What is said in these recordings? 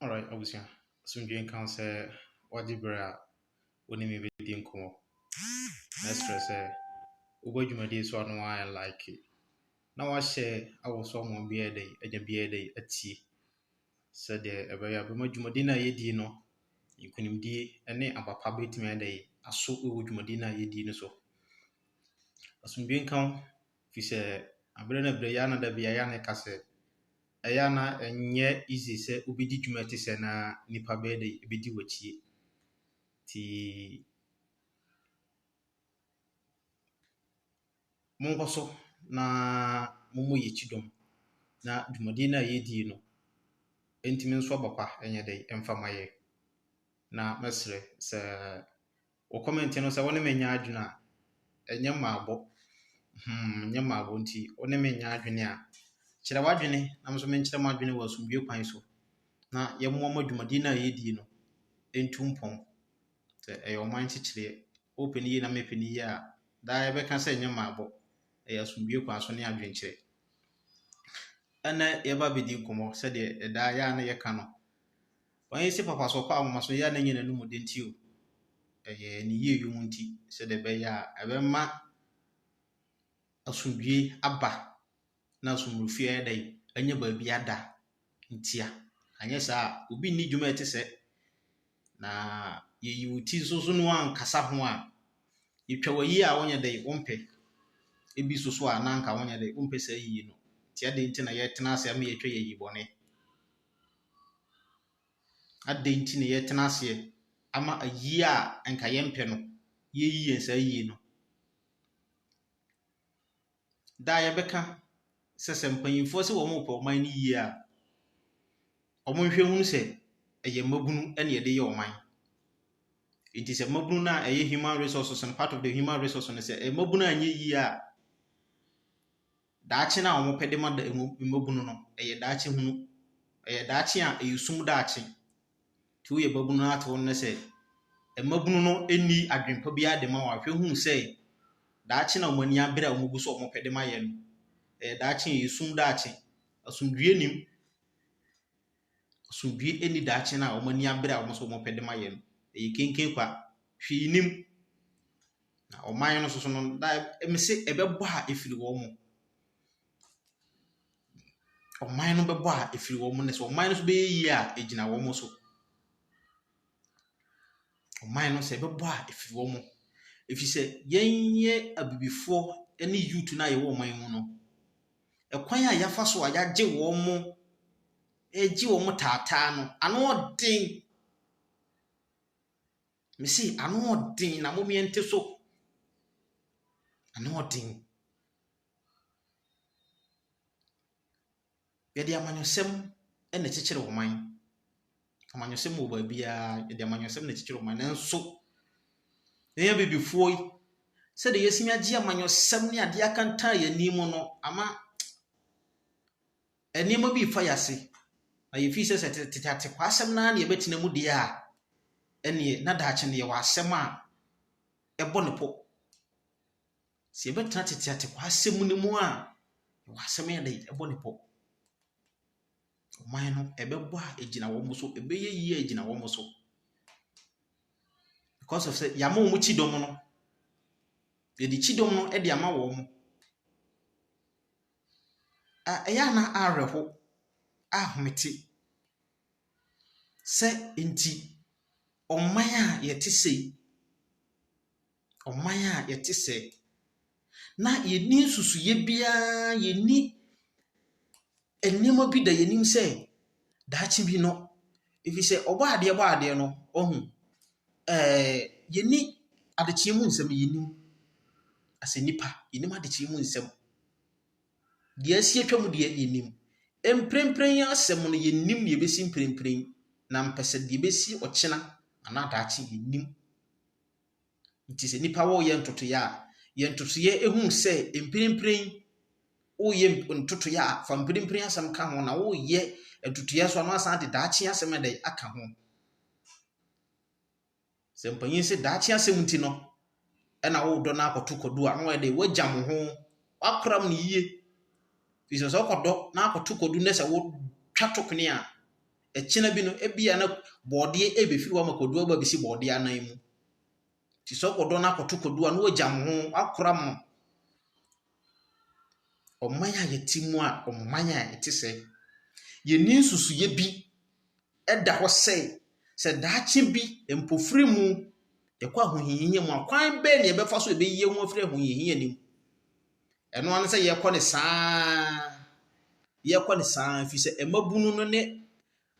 Alright, abusua. Asomdwoe nka wo sɛ wagye berɛ a wo ne me bɛdi nkɔmmɔ. Mɛsrɛ sɛ wobɔ dwumadie so a na woayɛ like, na woahyɛ awɔ so ama obiara ayɛ dɛn, anya biara ayɛ dɛn, atie. sɛdeɛ ɛbɛyɛ a ɛbɛma dwumadie no a yɛdie no nkunimdie ne aba pa bɛtumi ayɛ dɛ aso wɔ dwumadie no a yɛdie no so. Asomdwie nka wo fi sɛ aberɛ no aberɛ yɛ ana da bia yɛ ana ɛka sɛ ɛyɛ ana ɛnyɛ easy sɛ wobɛdi dwuma te sɛ na nipa bɛyɛ dɛ ɛbɛdi wakyie. Ti Monkɔ so na mommɔ yɛn akyi dɔm, na dwumadie no a yɛredi yi no, enti me nso aba pa nyɛ dɛ mfa ma yɛn. Na mɛsrɛ sɛ wo kɔmɛnte no sɛ wo ne me nyɛ adwene a, ɛnyɛ mmaabɔ, hmm, ɛnyɛ mmaabɔ nti wo ne me nyɛ adwene a, kyerɛ w'adwene na me nso menkyerɛ m'adwene wɔ asomdwoeɛ kwan so, na yɛmmoa ma dwumadie no a yɛredi yi no ntu mpɔn. Sɛ ɛyɛ ɔman nkyekyereɛ. wopɛ no yie na mepɛ no yie a, daa yɛbɛka sɛ nyɛ mmaabɔ. Ɛyɛ asomdwoeɛ kwan so ne adwenkyerɛ. Ɛnnɛ yɛba abɛdi nkɔmmɔ sɛdeɛ ɛdaa yɛ a na yɛka no. Wɔn si papa so ɔkɔ ahomaso yɛ a na nyɛ n'anum den ti o. Ɛyɛ ne yie yom nti sɛdeɛ ɛbɛyɛ a ɛbɛma asomdwoeɛ aba. na so mmorɔfie ayɛ dɛn anya baabi ada ntia. Anyɛ saa a, obi nni dwuma ɛte sɛ. Na yɛyi wo ti nso so na woankasa ho a, yɛtwa w'ayi a wonyɛ dɛn wompɛ. Ebi nso so a na anka wonyɛ dɛn wompɛ saa ayie no. Nti adɛn nti na yɛtena ase ama yɛatwa yɛ ayi bɔne? Adɛn nti na yɛtena aseɛ ama ayi a anka yɛmpɛ no, yɛyi yɛn saa ayie no? Daa yɛbɛka sɛ sɛ mpanyimfoɔ sɛ wɔrepɛ ɔman no yie a, wɔnhwɛ nhunu sɛ ɛyɛ mmabunu na wɔde yɛ ɔman. Enti sɛ mmabunu no a ɛyɛ human resources no, part of the human resources no, sɛ mmabunu anyɛ yie a, daakye no a wɔpɛ de ma mmabunu no, ɛyɛ daakye hunu. Ɛyɛ daakye a ɛyɛ sum daakye. Nti woyɛ babunu na atew no nnɛ sɛ mmabunu no nni adwene pa biara de ma wo a, hwɛ hu sɛ daakye na wɔn ani abere a wɔgu so a wɔpɛ de ma yɛn no, ɛyɛ daakye, ɛyɛ sum daakye. Asomdwoe nnim. Asomdwoe nni daakye no a wɔn ani abere a wɔn so wɔpɛ de ma yɛn no. Ɛyɛ kenken kwa. Hwee nnim. Na ɔman no nso so no, na ɛmese ɛbɛbɔ a ɛfiri wɔn mu. Ɔman no bɛbɔ a, ɛfiri wɔn, na sɛ ɔman no nso bɛyɛ yie a, ɛgyina wɔn so. Ɔman no sɛ ɛbɛbɔ a, ɛfiri wɔn. Ɛfiri sɛ, yɛnyɛ abibifoɔ ne youth no a yɛwɔ ɔman yi mu no, ɛkwan a yɛafa so a yɛagye wɔn, yɛgye wɔn taataa no, ano den. Mese ano den, na mommyɛnte so. Ano den. Yɛde amanyɔsɛm na ɛkyekyere ɔman. Amanyɔsɛm wɔ baabiara. Yɛde amanyɔsɛm na ɛkyekyere ɔman. Nanso, yɛn Abibifoɔ yi, sɛdeɛ yɛatumi agye amanyɔsɛm ne adeɛ akantan yɛn ani mu no ama nneɛma bi refa yɛn ase. Na yɛfii sɛ sɛ tete atekwasɛm no ara na yɛbɛtena mu deɛ a, ɛnneɛ na daakye no yɛwɔ asɛm a ɛbɔ ne pɔ. Sɛ yɛbɛtena tete atekwasɛm no mu a, yɛwɔ asɛm yɛ den, ɛbɔ ne pɔ. Ɔman no, ɛbɛbɔ a, ɛgyina wɔn so, ɛbɛyɛ yie a, ɛgyina wɔn so. Because of sɛ yɛama wɔn kyidɔm no, yɛde kyidɔm no de ama wɔn. A ɛyɛ a na awerɛho, ahomete sɛ nti ɔman a yɛte sei. ɔman a yɛte sɛɛ, na yɛnni nsusuiɛ biara, yɛnni nneɛma bi da yɛn anim sɛ daakye bi no, ɛfiri sɛ Ɔbɔadeɛ bɔɔ adeɛ no, wahu. Ɛɛɛ yɛnni adekyeɛ mu nsɛm, yɛnnim. Asɛ nnipa, yɛnnim adekyeɛ mu nsɛm. Deɛ asi atwam deɛ, yɛnnim. Mprempren asɛm no, yɛnnim deɛ ɛbɛsi mprempren, na ampɛ sɛ deɛ ɛbɛsi ɔkyena anaa daakye, yɛnnim. Nti sɛ nipa wo yɛ ntotoeɛ a, yɛ ntotoeɛ ɛhu sɛ mpirimpirin woyɛ ntotoeɛ a fa mpirimpirin asɛm ka ho na woyɛ ntotoeɛ nso a na wasan de daakye asɛm ɛdɛ aka ho. Sɛ mpanyin sɛ daakye asɛm nti no ɛna wodɔ no akɔto kwadu a na wayɛ dɛ wagya mo ho wakoram no yie. Firi sɛ sɛ wokɔdɔ na akɔto kwadu na sɛ wotwa to kone a, Ɛkyena bi no, ebia na bɔɔdeɛ rebɛfiri hɔ ama kwadua aba abɛsi bɔɔdeɛ anan mu. Nti sɛ wokɔdɔ no akɔto kwadua na wagyam ho, akora mo. Ɔman a yɛte mu a, ɔman a ɛte sɛɛ. Yɛnni nsusuiɛ bi da hɔ sɛ, sɛ daakye bi mpofiri mu yɛkɔ ahohiahia mu a, kwan bɛn na yɛbɛfa so a yɛbɛyi yɛn ho afiri ahohiahia no mu. Ɛno ara ne sɛ yɛkɔ ne saa yɛkɔ ne saa ɛfiri sɛ mmabunu no ne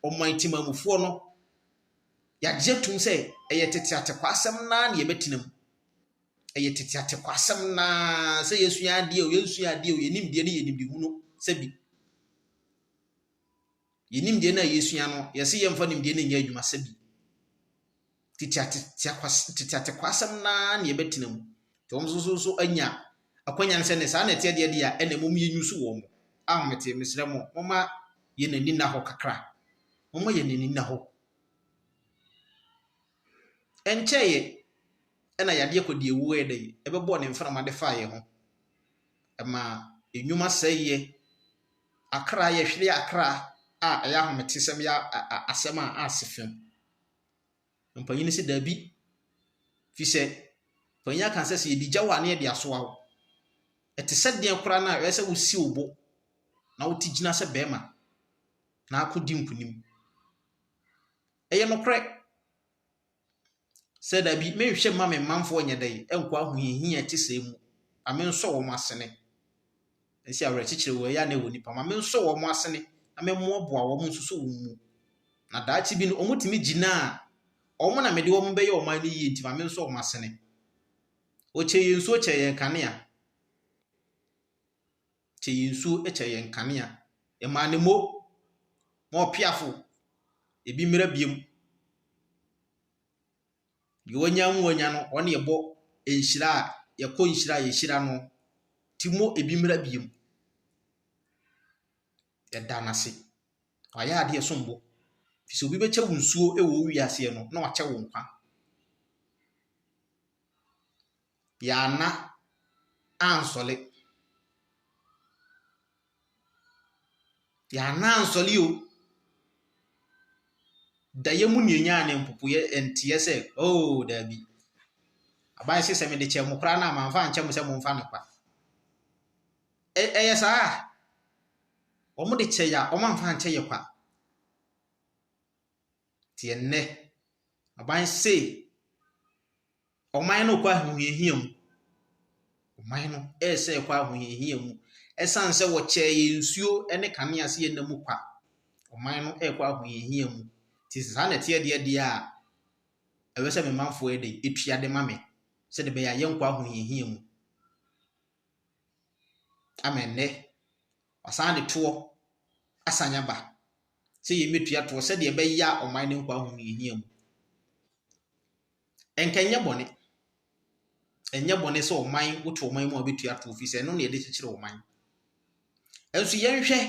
ɔman timamufoɔ no yɛagye atum sɛ ɛyɛ tete atekwa asɛm naa na yɛbɛtena mu ɛyɛ tete atekwa asɛm naa sɛ yɛsua adeɛ o yɛnsua adeɛ o yɛnim deɛ ne yɛnim de hunu sɛ bi Yɛn nimdeɛ no a yɛsua no, yɛse yɛmfa nimdeɛ no nyɛ adwuma sɛ bi. Teteatekwasɛm no ara na yɛbɛtena mu. Nti wɔn nso so anya akwanya no sɛ ne saa na ɛteɛ deɛ deɛ a, ɛna mmom yɛnyusu wɔn mo. Ahomete, mesrɛ mo, momma yɛn ani nna hɔ kakra. Momma yɛn ani nna hɔ. Ɛnkyɛeɛ ɛna yadeɛ akɔdeɛ wuo yɛ dɛ, ɛbɛbɔɔ ne mframa de faa yɛn ho. Ɛmaa nnwuma sɛeɛ. Akra, yɛhwere akra a ɛyɛ ahometesɛm yɛ asɛm a ase fam. Mpanyin no sɛ dabi, fi sɛ mpanyin aka sɛ sɛ yɛde gya wo a ne yɛde asoa wo. Ɛte sɛ deɛ koraa no a ɛyɛ sɛ wosi wo bo na wote gyina sɛ bɛrima na akɔdi nkonim. Ɛyɛ nokorɛ. sɛ dabi menhwɛ mma me manfoɔ nyɛ dɛn nkɔ ahohiahia ɛte sɛ mu na mensɔ wɔn asene ɛsi awerɛkyekyerɛ wɔ ɛyɛ a na ɛwɔ nipa ma mensɔ wɔn asene na memmoaboa wɔn nsusu wɔn mu na daakye bi no wɔtumi gyina a wɔn na mede wɔn bɛyɛ ɔman no yie nti ma mensɔ wɔn asene ɔkyɛ yɛn nsuo kyɛ yɛn kanea kyɛ yɛn nsuo, kyɛ yɛn nkanea. Yɛmaa no mo ma ɔpeafo, ebi mmra biom. Deɛ wanya mu anya no, ɔne yɛbɔ nhyira a yɛkɔ nhyira a yɛhyira no, ti mo ebi mmra biom. Yɛda no ase. Wayɛ adeɛ ɛsom bo. Fi sɛ obi bɛkyɛ wo nsuo wɔ wo wiaseɛ no, na wakyɛ wo nkwa. Yɛanna ansɔle. Yɛanna ansɔle o. Daeɛ mu na yɛnyaa no mpopo yɛ nteɛ sɛ oo daabi. Aban se sɛ mede kyɛɛ mo koraa no a mamfa ankyɛ mo sɛ momfa no kwa. Ɛ ɛyɛ saa a? Wɔde kyɛ yɛ a wɔamfa ankyɛ yɛ kwa. Nti ɛnnɛ aban se Ɔman no rekɔ ahohiahia mu. Ɔman no resa rekɔ ahohiahia mu. Ɛsan sɛ wɔkyɛɛ yɛn nsuo ne kanea sɛ yɛn nna mu kwa. Ɔman no rekɔ ahohiahia mu. Nti sɛ saa na ɛteɛ deɛ deɛ a, ɛwɛ sɛ me manfoɔ yɛ dɛ, etua de ma me, sɛdeɛ ɛbɛyɛ a yɛnkɔ ahohiahia mu. Ama ɛnnɛ, wasan de toɔ asan aba sɛ yɛn bɛtua toɔ sɛdeɛ ɛbɛyɛ a ɔman no nkɔ ahohiahia mu. Ɛnka ɛnyɛ bɔne. Ɛnyɛ bɔne sɛ ɔman woto ɔman mu a wobɛtua toɔ firi sɛ ɛno na yɛde kyekyere ɔman. Nso yɛnhwɛ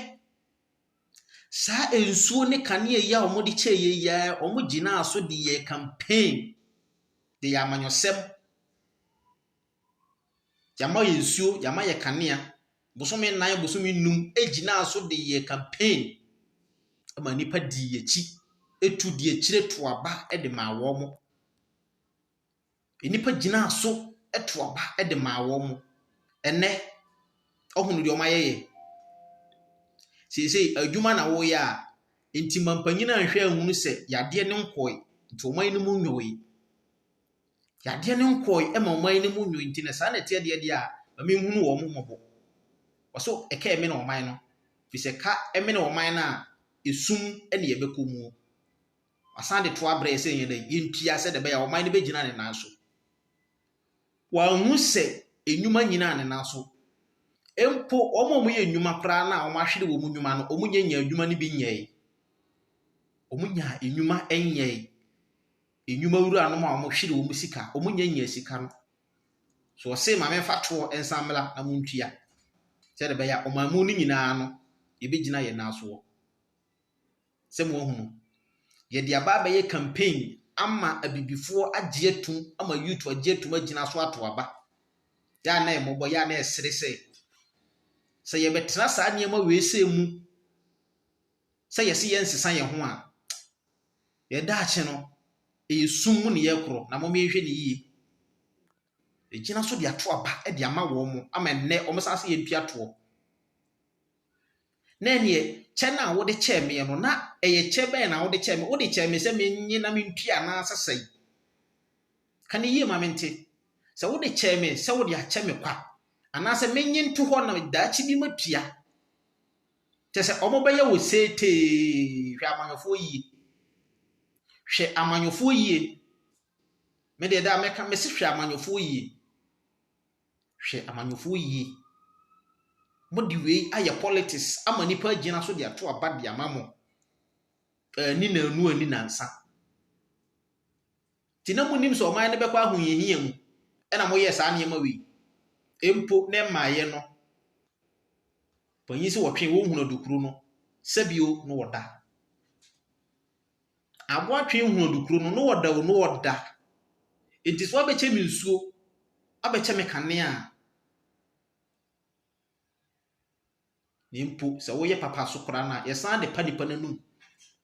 saa nsuo ne kanea yi a wɔde kyɛ yɛ yi ara wɔgyinaa so de yɛɛ campaign de yɛ amanyɔsɛm. Yɛama yɛn nsuo, yɛama yɛn kanea. Bosome nnan, bosome nnum gyinaa so de yɛɛ campaign ma nnipa dii yɛn akyi. Etu di akyire to aba de maa wɔn. Nnipa gyinaa so to aba de maa wɔn. Ɛnnɛ, woahunu deɛ wɔayɛ yɛn. Seesei adwuma na woyɛ a, nti mampanyin anhwɛ anhunu sɛ yadeɛ no nkɔe, nti wɔn anim nnwɔe. Yadeɛ no nkɔɔe ɛma ɔman no mu nwoi nti no saa na ɛteɛ deɛ deɛ a ma me nhunu wɔn mmɔbɔ. Ɔso ɛka ɛmene ɔman no firi sɛ ɛka ɛmene ɔman no a ɛsum ɛne yɛbɛkɔ muo. Wasan de toa brɛ yɛ sɛ yɛn dɛ yɛntua sɛ deɛ ɛbɛyɛ a ɔman no bɛgyina ne nan so. Wanhu sɛ nnwuma nyinaa ne nan so. Mpo wɔn a wɔyɛ nnwuma koraa no a wɔahwere wɔn nnwuma no wɔnyɛ nyaa nnwuma no bi nyɛɛe. Wɔnyaa nnwuma nyɛɛe. Nnwuma wuranom a wɔhwere wɔn sika, wɔnnya nnya sika no. So ɔse ma memfa toɔ nsan mmra na montua? Sɛdeɛ ɛbɛyɛ a ɔman mu no nyinaa no, yɛbɛgyina yɛn nan soɔ. Sɛ moahunu, yɛde aba abɛyɛ campaign ama abibifoɔ agye atum ama youth agye atum agyina so ato aba. Yɛ a na ɛmmɔbɔ, yɛ a na ɛsere sɛ sɛ yɛbɛtena saa nneɛma wei sɛ mu sɛ yɛse yɛnsesa yɛn ho a, Yɛn daakye no, ɛyɛ sum mu nneyɛɛ koro, na momma yɛnhwɛ no yie. Ɛgyina so de ato aba de ama wɔn ama ɛnnɛ wɔsan sɛ yɛntua toɔ. Na ɛnneɛ kyɛ no a wode kyɛɛ me no, na ɛyɛ kyɛ bɛn na wode kyɛɛ me? Wode kyɛɛ me sɛ mennye na mentua anaasɛ sɛn? Ka no yie ma mente. Sɛ wode kyɛɛ me sɛ wode akyɛ me kwa, anaasɛ mennye nto hɔ na daakye bi matua Kyɛ sɛ wɔbɛyɛ wo seetee. Hwɛ amanyɔfoɔ yie. Hwɛ amanyɔfoɔ yie. Me deɛ daa mɛka mɛsi hwɛ amanyɔfoɔ yie. Hwɛ amanyɔfoɔ yie. Mo de wei ayɛ politics ama nipa agyina so de ato aba de ama mo. Ani na anu ani nansa. Nti na monim sɛ ɔman no bɛkɔ ahohiahia mu na moyɛɛ saa nneɛma wei. Mpo na ɛmaeɛ no, panyin sɛ wɔtwee wɔn hunadukuro no sɛbio no wɔda. Aboa twe hunadukuro no no wɔda o no wɔda. Nti so abɛkyɛ me nsuo, abɛkyɛ me kanea a, na mpo sɛ woyɛ papa so koraa no a, yɛsan de pa nipa no anum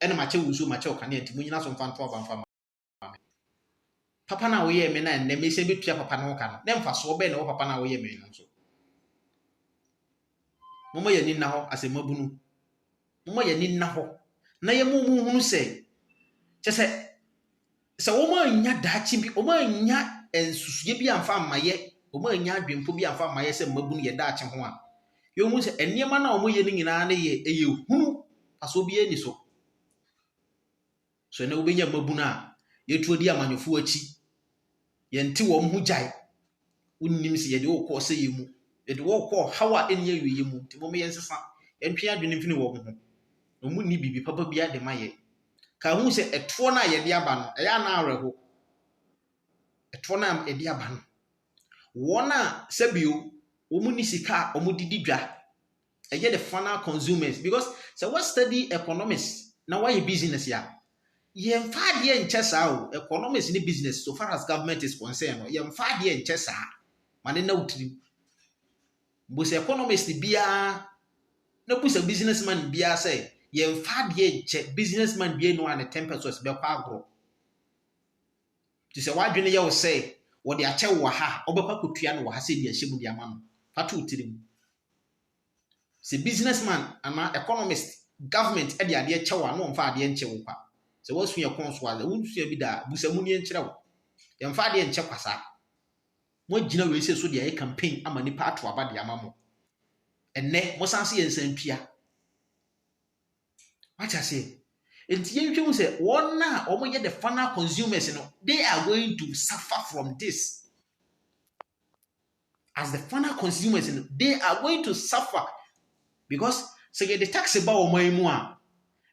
ɛna makyɛ wo nsuo, makyɛ wo kanea nti monyina so mfa nto aba mfa ma. me. Papa no a woyɛɛ me na ɛnnɛ mesan betua papa no ho ka no, na mfasoɔ bɛn na ɛwɔ papa no a woyɛ me no so? Momma yɛn ani nna hɔ asɛmmabunu. Momma yɛn ani nna hɔ na yɛn mu mu hunu sɛ, kyɛ sɛ sɛ wɔannya daakye bi, wɔannya nsusuiɛ bi amfa mmayɛ, wɔannya adwempo bi amfa mmayɛ sɛ mmabunu yɛ daakye ho a, yɛhu sɛ nneɛma no a wɔyɛ no nyinaa no yɛ ɛyɛ hunu, fasoɔ biara ni so. So ɛnnɛ wobɛnya mmabunu a yɛtu adi amanyɔfoɔ akyi? Yɛnte wɔn ho gyae. Wonnim sɛ yɛde wɔrekɔ ɔsɛeɛ mu. Yɛde wɔn rekɔ ɔhaw a ɛnni awieeɛ mu. Nti mom yɛnsesa. Yɛntwe yɛn adwene mfini wɔn ho. Na wɔnni biribi papa biara de ma yɛn. Ka hu sɛ ɛtoɔ no a yɛde aba no, ɛyɛ anaa awerɛho? Ɛtoɔ no a yɛde aba no, wɔn a sɛbio wɔn ni sika a wɔde di dwa ɛyɛ the final consumers because sɛ wa study economics na wayɛ business a yɛmfa adeɛ nkyɛ saa o economics ne business so far as government is concerned no yɛmfa adeɛ nkyɛ saa ma ne na wotiri mbu sɛ economics ne biara na bu sɛ businessman biara sɛ yɛmfa adeɛ nkyɛ businessman biara no a ne ten percent bɛkɔ agorɔ te sɛ wadwene yɛ wo sɛ wɔde akyɛ wɔ ha ɔbɛkɔ akɔtua no wɔ ha sɛ de ahyɛ mu de ama no fa to tirim Sɛ business man anaa economist, government de adeɛ kyɛ wo a, na wɔmfa adeɛ nkyɛ wo kwa. Sɛ woasua ɛkɔn so a, sɛ wonsua bi da a, bu sɛ mu nie nkyerɛ wo. Yɛmfa adeɛ nkyɛ kwa saa. Moagyina wei sɛ so de ayɛ campaign ama nipa ato aba de ama mo. Ɛnnɛ, mosan se yɛnsan ntua. Wate aseɛ? Enti yɛnhwɛ hu sɛ wɔn a wɔyɛ the final consumers no, they are going to suffer from this. as the final consumers no they are going to suffer because sɛ yɛde tax ba ɔman mu a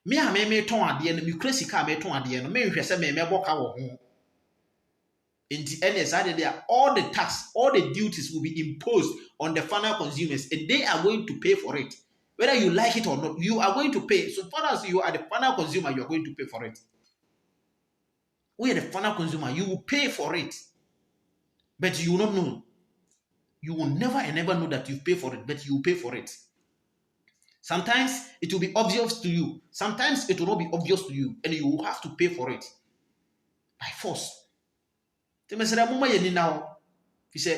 me a me metɔn adeɛ no mekura sika a metɔn adeɛ no menhwɛ sɛ memɛbɔ ka wɔ ho nti ɛnna saa deɛ deɛ all the tax all the duties will be imposed on the final consumers and they are going to pay for it whether you like it or not you are going to pay so far as you are the final consumer you are going to pay for it. Woyɛ the final consumer. You will pay for it. But you will not know. You will never and never know that you pay for it, but you will pay for it. Sometimes it will be obvious to you. Sometimes it will not be obvious to you, and you will have to pay for it by force. Nti mesrɛ mo ma yɛ nina hɔ fi sɛ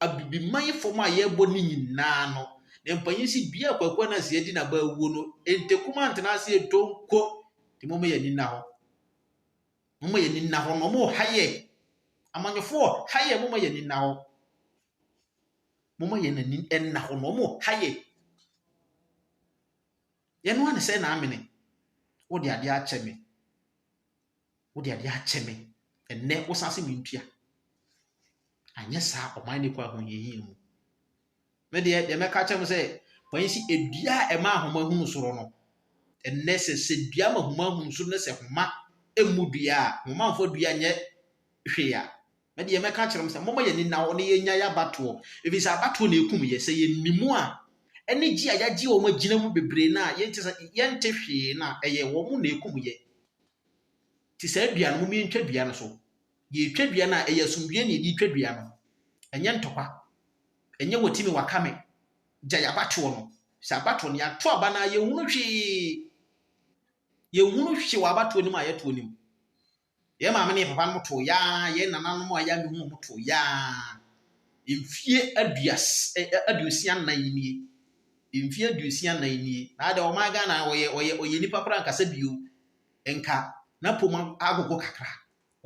abibiman yi fam a yɛbɔ ne nyinaa no ne mpanyin si dua akwakwa no aseɛ di n'aba awuo no ntekum antena aseɛ donko nti mo ma yɛ nina hɔ Momma yɛn ani nna hɔ no, wɔreha yɛn. Amanyɔfoɔ, ha yɛn, momma yɛn ani nna hɔ. Momma yɛn ani nna hɔ no, wɔreha yɛn. Yɛn ara ne sɛ na amene. Wode adeɛ akyɛ me. Wode adeɛ akyɛ me. Ɛnnɛ, wosan se mentua. Anyɛ saa, ɔman no kɔ ahohiahia mu. me deɛ deɛ mɛka kyerɛ mo sɛ panyin si edua a ɛma ahoma hunu soro no ɛnɛ sɛ sɛ dua ma ahoma hunu soro no sɛ homa emu dua a homa nfa dua nyɛ hwee a me deɛ mɛka kyerɛ mo sɛ mɔmɔ yɛ nina wɔn yɛ nya yɛ abatoɔ ebi sɛ abatoɔ na ekum yɛ sɛ yɛ nimu a ɛne gye a yɛagye wɔn agyina mu bebree na yɛnte sɛ yɛnte hwee na ɛyɛ wɔn na ekum yɛ te sɛ dua no mo yɛntwa dua no so. Yɛretwa dua no a, ɛyɛ asomdwoeɛ na yɛde retwa dua no. Ɛnyɛ ntɔkwa. Ɛnyɛ wati me waka me. Gyae abatoɔ no. Sɛ abatoɔ no, yɛato aba no a, yɛnhunu hwee. Yɛnhunu hwee wɔ abatoɔ no mu a yɛtoɔ no mu. Yɛn maame ne yɛn papa nom too yaa, yɛn nananom a yɛa mehu wɔn too yaa. Mfie aduas, ɛ, ɛ, aduosia nnan nie. Mfie aduosia nnan nie. Na adɛ ɔman Ghana, ɔyɛ, ɔyɛ, ɔyɛ nnipa koraa nkasa bio. Nka, n'apom agogo kakra.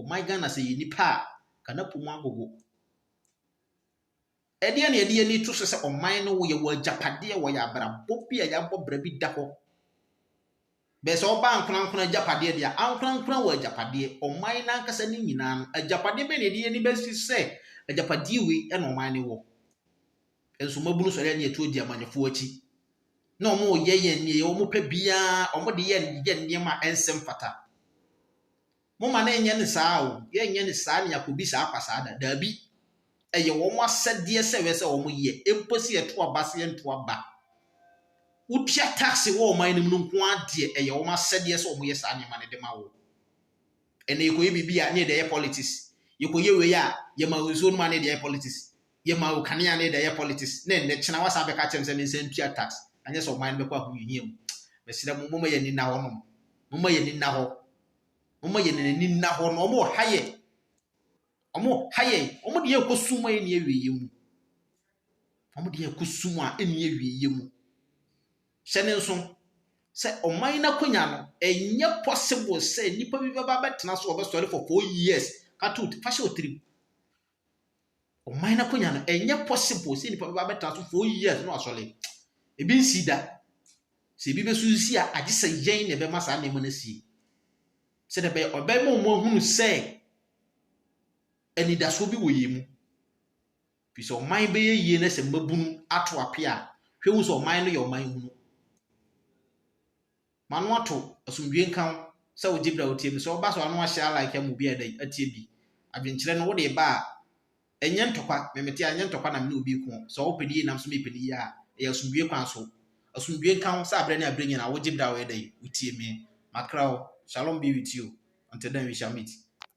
Ɔman Ghana sɛ yɛ nnipa a nka na po mu agogo. Ɛdeɛn na yɛde yɛn ani to so sɛ ɔman no yɛ wɔ agyapadeɛ wɔ yɛ abrabɔ bi a yɛabɔ bra bi da hɔ. Bɛɛ sɛ ɔbaa nkorankora agyapadeɛ deɛ ankorankora wɔ agyapadeɛ ɔman no ankasa ne nyinaa no agyapadeɛ bɛn na yɛde yɛn ani bɛsi sɛ agyapadeɛ wei na ɔman no wɔ. Nso mabunu sɔre ani atuo di amanyɔfoɔ akyi na wɔyɛ yɛn nneɛ wɔpɛ biara wɔde yɛ yɛ nneɛma a ɛnsɛ mfata. Momma no nyɛ no saa o, yɛrenyɛ no saa na yɛakɔdi saa kwa saa da. Daabi. Ɛyɛ wɔn asɛdeɛ sɛ ɛwɛ sɛ wɔyɛ, mpo sɛ yɛto aba sɛ yɛnto aba. Wotua tax wɔ ɔman no mu no nko ara deɛ, ɛyɛ wɔn asɛdeɛ sɛ wɔyɛ saa nneɛma no de ma wo. Ɛnna yɛkɔyɛ biribi a, ne yɛde ayɛ politics. Yɛkɔyɛ wei a, yɛma wo nsuo nom a, ne yɛde ayɛ politics. Yɛma wo kanea a, ne yɛde ayɛ politics. Na ɛnnɛ kyena wasan bɛka akyerɛ me sɛ mensan ntua tax, anyɛ sɛ ɔman no bɛkɔ ahohiahia mu. Mesrɛ mo, momma yɛn ani nna hɔnom. Momma yɛn ani nna hɔ. Wɔma yɛn ani nna hɔ na wɔreha yɛn. Wɔreha yɛn. Wɔde yɛn kɔ sum a ɛnni awieeɛ mu. Wɔde yɛn kɔ sum a ɛnni awieeɛ mu. Hyɛ no nso sɛ ɔman no akonnwa no, ɛnyɛ possible sɛ nnipa bi bɛba abɛtena so wɔbɛsɔre for four years ka to fa hyɛ wo tirim. ɔman no akonnwa no ɛnyɛ possible sɛ nipa bɛba abɛtra so four years no asɔre ebi nsi da sɛ ebi bɛso nsi a agye sɛ yɛn na ɛbɛma saa nneɛma no si sɛ dɛ bɛyɛ ɔbɛma wɔn ahunu sɛ anidasoɔ bi wɔ yɛn mu fi sɛ ɔman bɛyɛ yie na sɛ mmabunu ato ape a hwɛ hu sɛ ɔman no yɛ ɔman hunu M'ano ato, asomdwoe nka wo, sɛ wogye bere a wotie me. Sɛ ɔba so a na wahyɛ alike ama obi a ɛda yi atie bi. Adwenkyerɛ no, wode reba a, ɛnyɛ ntɔkwa. Memete a, ɛnyɛ ntɔkwa na me ne obi reko. Sɛ ɔpɛ no yiye na me nso mepɛ no yiye a, ɛyɛ asomdwoe kwan so. Asomdwoe nka wo, sɛ bere ne bere nyinaa wogye bere a ɛda yi wotie me. M'akra o, shalom be with you until then we shall meet.